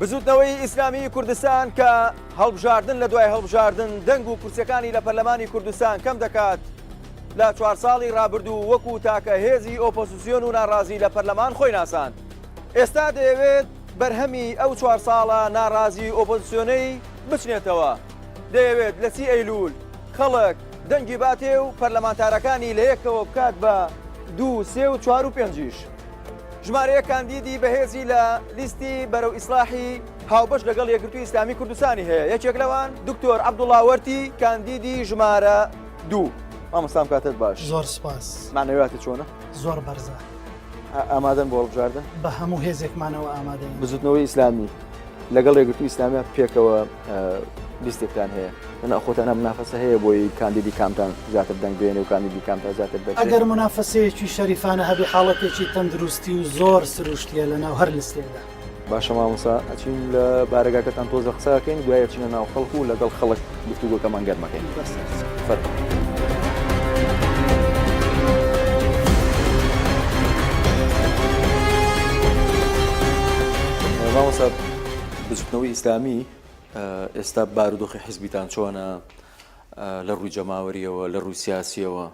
بزوتنەوەی ئیسلامی کوردستان کە هەڵبژاردن لە دوای هەڵبژاردن دەنگ و کورسەکانی لە پەرلەمانی کوردستان کەم دەکات لە چوار ساڵی رابردوو وەکو تاکە هێزی ئۆپۆسیسیۆن و ناڕازی لە پەرلەمان خۆی ناساند ئێستا دەیەوێت بەرهەمی ئەو چوار ساڵە ناڕازی ئۆپۆزسیۆنەی بچنێتەوە، دەیەوێت لە سی ئەیلول خەڵک دەنگی باتێ و پەرلەمانتارەکانی لە یەکەوە بکات بە دوو، سێ و چوار و پێنجیش. ژمارەیەک کاندیدی بەهێزی لە لیستی بەرەو ئیسلاحی هاوبەش لەگەڵ یەکگرتووی ئیسلامی کوردستانی هەیە، یەکێک لەوان دکتۆر عەبدوڵا وەرتی کاندیدی ژمارە دوو. مامۆستا ئەم کاتەت باش. زۆر سوپاس. مەعنەویاتت چۆنە؟ زۆر بەرزە. ئامادەن بۆ هەڵبژاردن بە هەموو هێزێکمانەوە ئامادە بزوتنەوەی ئیسلامی لەگەڵ ڕێگرتو ئیسلامیا پێکەوە لیستێکتان هەیە ناخۆتانە منافەسە هەیە بۆی کاندیدی کامتان زیاتر دەنگ بێنێ و کاندیدی کامتا زیاتر دەنگ ئەگەر منافەسەیەکی شەریفانە هەبی حاڵەتێکی تەندروستی و زۆر سروشتیە لەناو هەر لستێکدا باشە مامۆسا ئەچین لە بارەگاکەتان تۆزە قساکەین دوایە چینە ناو خەڵک و لەگەڵ خەڵک گفتوگۆکەمان گەرمەکەین فەر. مامۆسا بزوتنەوەی ئیسلامی ئێستا بارودۆخی حزبیتان چۆنە لە ڕووی جەماوەریەوە لە ڕووی سیاسیەوە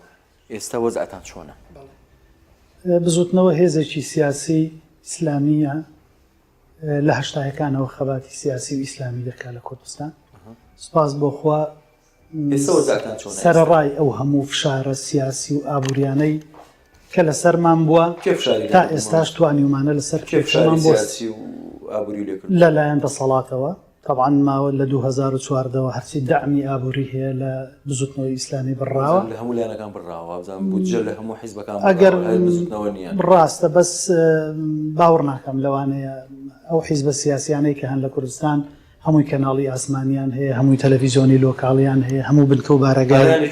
ئێستا وەزعتان چۆنە؟ بەڵێ. بزووتنەوە هێزێکی سیاسی ئیسلامییە لە هەشتاهەکانەوە خەباتی سیاسی و ئیسلامی دەکات لە کوردستان. سپاس بۆخوا سەرڕای ئەو هەموو فشارە سیاسی و ئابووریانەی کە لەسەرمان بووە تا ئێستاش توانیومانە لەسەر کێفشمان بۆ لەلایەن دەسەڵاتەوە تەبعەن ماوە لە دوو هەزار و چواردە وە هەرچی دەعمی ئابووری هەیە لە بزووتنەوەی ئیسلامی بڕاوە. بودجە لە هەموو لایەنەکان بڕاوە وابزانم بودجە لە هەموو حیزبەکان بڕاوە هەر بزووتنەوە نییە. ڕاستە بەس باوەڕ ناکەم لەوانەیە ئەو حیزبە سیاسیانەی کە هەن لە کوردستان هەمووی کەناڵی ئاسمانیان هەیە هەمووی تەلەفیزۆنی لۆکاڵیان هەیە هەموو بنکە و بارەگایان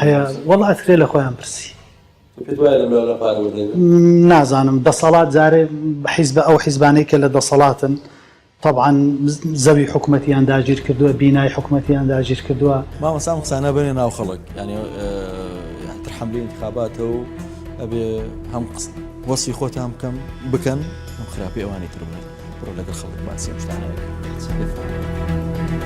هەیە وەڵا ئەترێ لە خۆیان پرسی. پێت وایە لەم لاو لەم پارە وردەبن؟ نازانم دەسەڵات جارێ حیزبە ئەو حیزبانەی کە لە دەسەڵاتن تەبعەن زەوی حکومەتیان داگیر کردوە بینای حکومەتیان داگیر کردوە. مامۆستا ئەم قسانە بەنێ ناو خەڵک یانی یانی تر حەملی انتخاباتە و ئەبێ هەم وەسی خۆتان بکەم بکەن ئەم خراپی ئەوانی تر بڵێن بڕۆ لەگەڵ خەڵک باسی ئەم شتانە بکەن.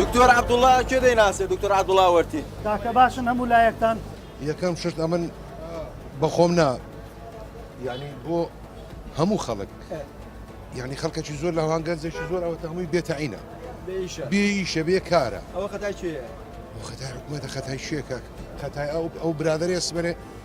دکتۆر عبدوڵا کێ دەیناسێ دکتۆر عبدوڵا وەرتی کاکە باشن هەموو لایەکتان یەکەم شت ئەمن بەخۆم نا یعنی بۆ هەموو خەڵک یعنی خەڵکەکی زۆر لە هەوانگەنجێکی زۆر ئەوە هەمووی بێتەعینە بێیشە بێ کارە ئەوە خەتای چێ خەتای حکوومەتە خەتای شێکە خەتای ئەو ئەو برادری ئەسمەێ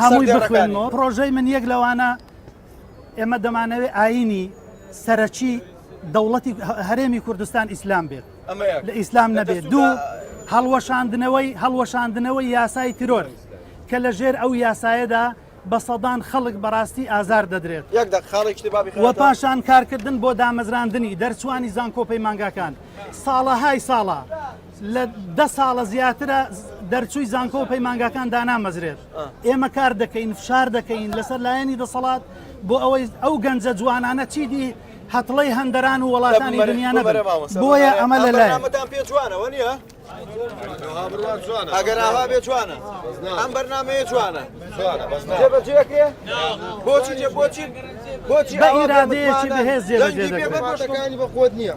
هەمووی بخوێنەوە پرۆژەی من یەک لەوانە ئێمە دەمانەوێت ئاینی سەرەکی دەوڵەتی هەرێمی کوردستان ئیسلام بێت لە ئیسلام نەبێت دوو هەڵوەشاندنەوەی هەڵوەشاندنەوەی یاسای ترۆر کە لە ژێر ئەو یاسایەدا بە سەدان خەڵک بەڕاستی ئازار دەدرێت وە پاشان کارکردن بۆ دامەزراندنی دەرچوانی زانکۆپەی مانگاکان ساڵەهای ساڵە لە دە ساڵە زیاترە دەرچووی زانکۆ و پەیمانگاکان دانامەزرێت ئێمە کار دەکەین فشار دەکەین لەسەر لایەنی دەسەڵات بۆ ئەوەی ئەو گەنجە جوانانە چیدی هەتڵی هەندەران و وڵاتانی دنیاە بۆیە ئەمە لە لایەتان پێ جوانەوە نیە ئەگەر ئاها بێ جوانە ئەم بەرنمەیە جوانە جێبەجێکرێ بۆچی جێ بۆچی بۆچی ئیرادەیەکی بەهێز جێبەجێ بەخۆت نییە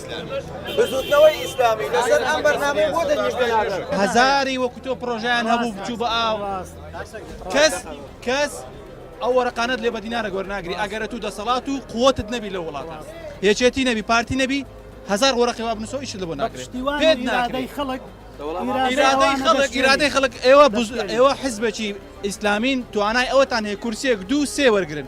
بزوتنەوەی ئیسلامی لەسەر ئەم بەرنامەی بۆ دەنگیش بنادەن هەزاری وەکو تۆ پرۆژیان هەبوو بچوو بە ئاو کەس کەس ئەو وەرەقانت لێ بەدینارە گۆرناگری ئەگەرە تو دەسەڵات و قوتت نەبی لە وڵاتە یەکێتی نەبی پارتی نەبی هزار وەرەقی واب نووسەوە ئیشت لە بۆ ناکرێت پێت ناکرێت خەڵک ئیرادەی خەڵک ئیرادەی خەڵک ئێوە ئێوە حزبێکی ئیسلامین توانای ئەوەتان هەیە کورسێک دوو سێ وەرگن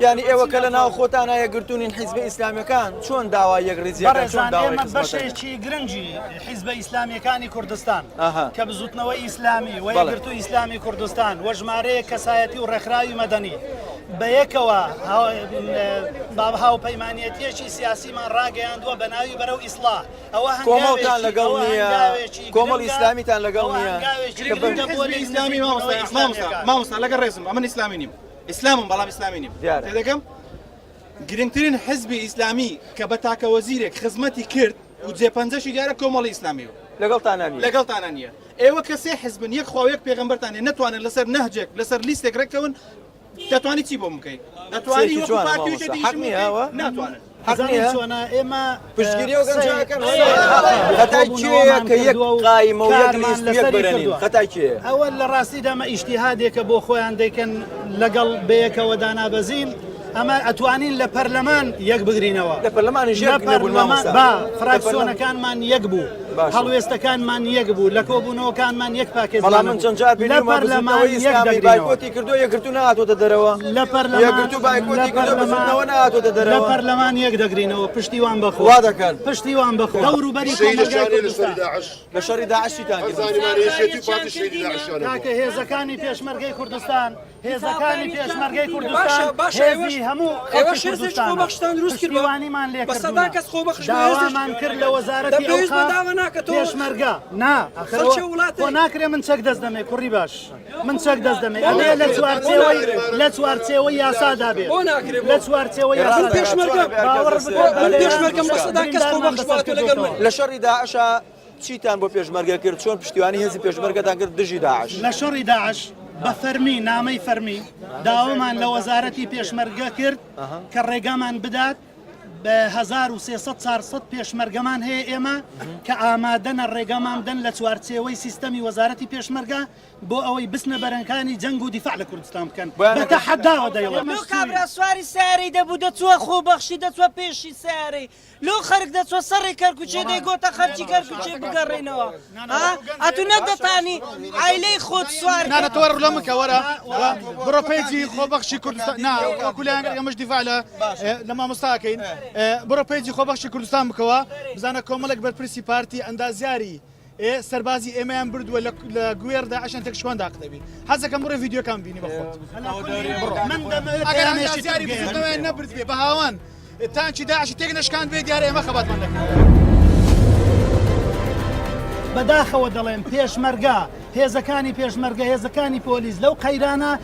یانی ئێوە کە لە ناو خۆتانا یەکگرتوونین حیزبە ئیسلامیەکان چۆن داوا یەکڕیزی بەڕێزان ئێمە بەشێکی گرنگی حیزبە ئیسلامیەکانی کوردستان کە بزوتنەوەی ئیسلامی و یەکگرتو ئیسلامی کوردستان وە ژمارەیە کەسایەتی و ڕێکخراوی مەدەنی بە یەکەوە باب هاوپەیمانەتیەکی سیاسیمان ڕاگەیاندووە بە ناوی بەرەو ئیسلا ئەوە هەنگاوێکیان لەگەڵ نیە کۆمەڵ ئیسلامیتان لەگەڵ نیە ئیسلامی مامۆستا لەگە ڕێزم ئەمن ئیسلامی نیم ئیسلامم بەڵام ئیسلامی نیم دیارە. تێدەگەم گرنگترین حزبی ئیسلامی کە بە تاکە وەزیرێک خزمەتی کرد و جێ پەنجەشی دیارە کۆمەڵی ئیسلامی و لەگەڵتانا نییە. لەگەڵتانا نییە ئێوە کە سێ حزبن یەک خوا و یەک پێغەمبەرتان هەیە نەتوانن لەسەر نەهجێک لەسەر لیستێک رێککەون دەتوانی چی بۆم بکەی دەتوانی سەیرێکی وەکو جوانە پارتی و مامۆستا. شتێکی حەق نییە ئەوە؟ ناتوانن. حەق نیە چۆنە ئێمە پشتگیری و گەنجە ئەکەن خەتای کێیە کە یەک قایمە و یەک لیست یەک بەرەنین خەتای کێیە ئەوە لە ڕاستیدا مە ئیشتیهادێکە بۆ خۆیان دەکەن لەگەڵ بەیەکەوە دانابەزین ئەمە ئەتوانین لە پەرلەمان یەک بگرینەوە لە پەرلەمانی ژێر پەرلەمان با فراکسیۆنەکانمان یەک بوو هەڵوێستەکانمان یەک بوو لە کۆبوونەوەکانمان یەک پاکێت بەڵام من چەند جار لە پەرلەمانی بایکۆتی کردو یەکرتو نهاتۆتە دەرەوە لە پەرلەمانی بایکۆتی کردەوە نهاتۆتە دەرەوە لە پەرلەمان یەک دەگرینەوە پشتیوان بەخوا دەکەن پشتیوان بەخوا دەور و بەری لە شەڕی داعشی تان کاکە هێزەکانی پێشمەرگەی کوردستان هێزەکانی پێشمەرگەی کوردستان هێزی هەموو خەڵکی کوردستان پشتیوانیمان لێ کردوونە داوامان کرد لە وەزارەتی ئەوقاف پێشمەرگە نا بۆ ناکرێ من چەک دەست دەمێ کوڕی باش من چەک دەست دەمێ ئەوێ لە چوارچێوەی لە چوارچێوە یاسادا بێت لە چوارچێوە یاسا پێشمەرگە باوەڕ بکە پێشمەرگەم بەسەدا کەس خۆ بەخش باتە لەگەڵ لە شەڕی داعشە چیتان بۆ پێشمەرگە کرد؟ چۆن پشتیوانی هێزی پێشمەرگەتان کرد دژی داعش؟ لە شەڕی داعش بە فەرمی نامەی فەرمی داوامان لە وەزارەتی پێشمەرگە کرد کە ڕێگامان بدات بە 1300 پێشمەرگەمان هەیە ئێمە کە ئامادەنە ڕێگەمان دەن لە چوارچێوەی سیستەمی وەزارەتی پێشمەرگە بۆ ئەوەی بسنە بەرەنکانی جەنگ و دیفاع لە کوردستان بکەن بەتە حەداوە دەیڵێ سواری سیارەی دەبوو دەچووە خۆ بەخشی دەچوە پێشی سیارەی لۆ خەرک دەچوە سەڕی کەرکوچێ دەیگۆتە خەرکی کەرکوچێ بگەڕێنەوە ها ئەتو نەتدەتانی عایلەی خۆت سوار نانە تۆ وەرە لە من کە وەرە وە بڕۆ پەیجی خۆبەخشی کوردستان نا وەکو لایەن ئێمەش دیفاع لە ئێ، لە مامۆستاکەین ئێ، بڕۆ پەیجی خۆبەخشی کوردستان بکەوە بزانە کۆمەڵێک بەرپرسی پارتی ئەندازیاری ئێ سەربازی ئێمەیان بردووە لە لە گوێر داعشان تێکشکان داقدەبی حەزەکەم بڕێ ڤیددیوکان بینی بەخۆت نەبرد بێ بە هاوان تانچی داعشی تێک نشکان بێ دیارە ئێمە خەباتمان دەکرد بەداخەوە دەڵێن پێشمەرگا هێزەکانی پێشمەرگە هێزەکانی پۆلیس لەو قەیرانە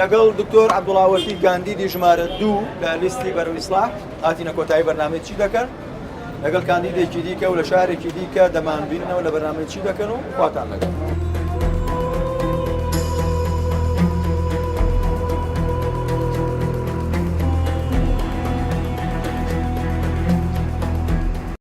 لەگەڵ دکتۆر عەبدوڵاوەفی گاندیدی ژمارە دوو لە لیستی بەرەو ئیسلاح هاتینە کۆتایی بەرنامەی چی دەکەن لەگەڵ کاندیدێکی دیکە و لە شارێکی دیکە دەمانبینەوە لە بەرنامەی چی دەکەن و خواتان لەگەڵ.